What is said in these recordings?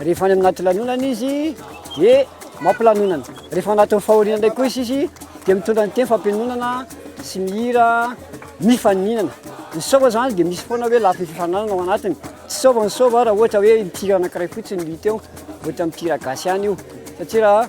Rehefa any anaty lanonana izy dia mampilanonana. Rehefa anatin'ny fahoriana indray koa izy izy dia mitondra ny teny fampianonana sy ny hira mifaninana. Ny sôva izany dia misy foana hoe lafiny fifaninanana ao anatiny. Tsy sôva ny sôva raha ohatra hoe ny tir anankiray fotsiny no hita eo, ohatra amin'ny tir gasy ihany io. Satria raha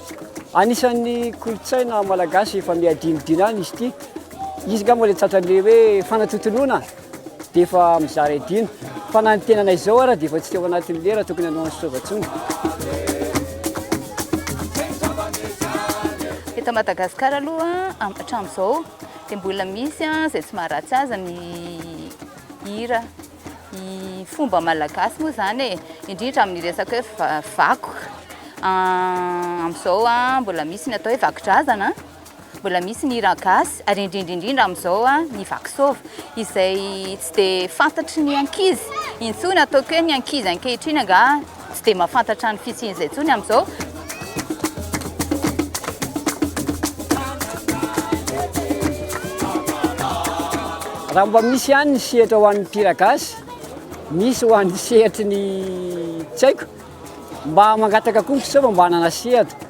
Anisan'ny kolontsaina malagasy efa miha dinidina any izy ity. Izy angamba ilay tratran'ilay hoe fanatontoloana dia efa mizara idina. Fa na ny tenanay izao ara dia efa tsy teo anatin'ny lera tokony hanao an'i Soava intsony. Eto Madagasikara aloha hatramin'izao dia mbola misy izay tsy maharatsy azy ny hira. ny fomba malagasy moa zany e indrindra amin'ny resaka hoe vakoka amin'izao a mbola misy ny atao hoe vakidrazana mbola misy ny hira gasy ary indrindra indrindra amin'izao a ny vakisova izay tsy dia fantatry ny ankizy intsony ataoko hoe ny ankizy ankehitriny angaha Tsy dia mahafantatra ny fisian'izay intsony amin'izao. Raha mba misy ihany ny sehatra ho an'ny mpihira gasy, misy ho an'ny sehatry ny tsy haiko, mba mangataka koa ny mpiseo fa mba hanana sehatra.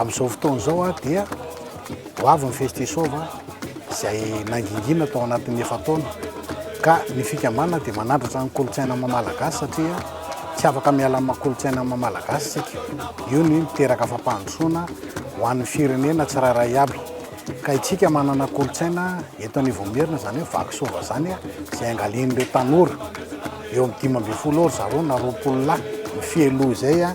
Amin'izao fotoana izao dia ho avy ny Festisova izay nangingina tao anatin'ny efa-taona ka ny fikambanana dia manandratra ny kolontsaina mamalagasy satria tsy afaka miala amin'ny kolontsaina mamalagasy isika. Io ny miteraka fampandrosoana ho an'ny firenena tsirairay aby. Ka itsika manana kolontsaina eto Anivoamerina zany hoe vaky sôva zany a, zay angalian'ireo tanora, eo amin'ny dimy ambin'ny folo eo ry zareo na roapolo lahy, ny fialoha izay a,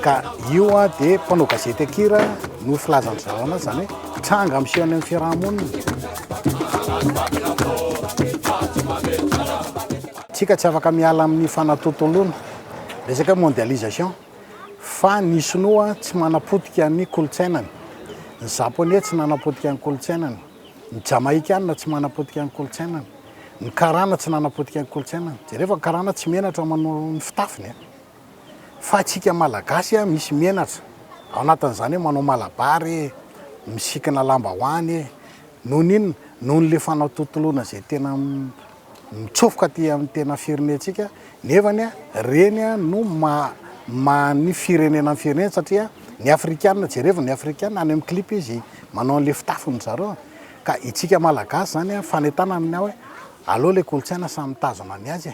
ka io a de mpanao gazety an-kira no filaza ny zareo anazy zany hoe tranga miseho any amin'ny fiarahamonina. Tsika tsy afaka miala amin'ny fanatontoloana resaka mondialisation. Fa ny Sinoa tsy manapotika ny kolontsainany, ny Japoney tsy nanapotika ny kolontsainany, ny Jamaikana tsy manapotika ny kolontsainany, ny Karana tsy nanapotika ny kolontsainany. Jereo fa ny Karana tsy menatra manao ny fitafiny an! Fa antsika Malagasy an, misy menatra, ao anatin'izany hoe manao malabary e, misikina lambahoany e. Noho ny inona? Noho an'ilay fanatontoloana izay tena. mitsofoka aty amin'ny tena firenentsika nefa ny reny no maha ny firenena ny firenena satria ny afrikana jerevo ny afrikana any amin'ny clip izy manao an'le fitafiny zareo ka itsika malagasy izany a fanetana amin'ny aho hoe aloha le kolontsaina samy mitazona ny azy e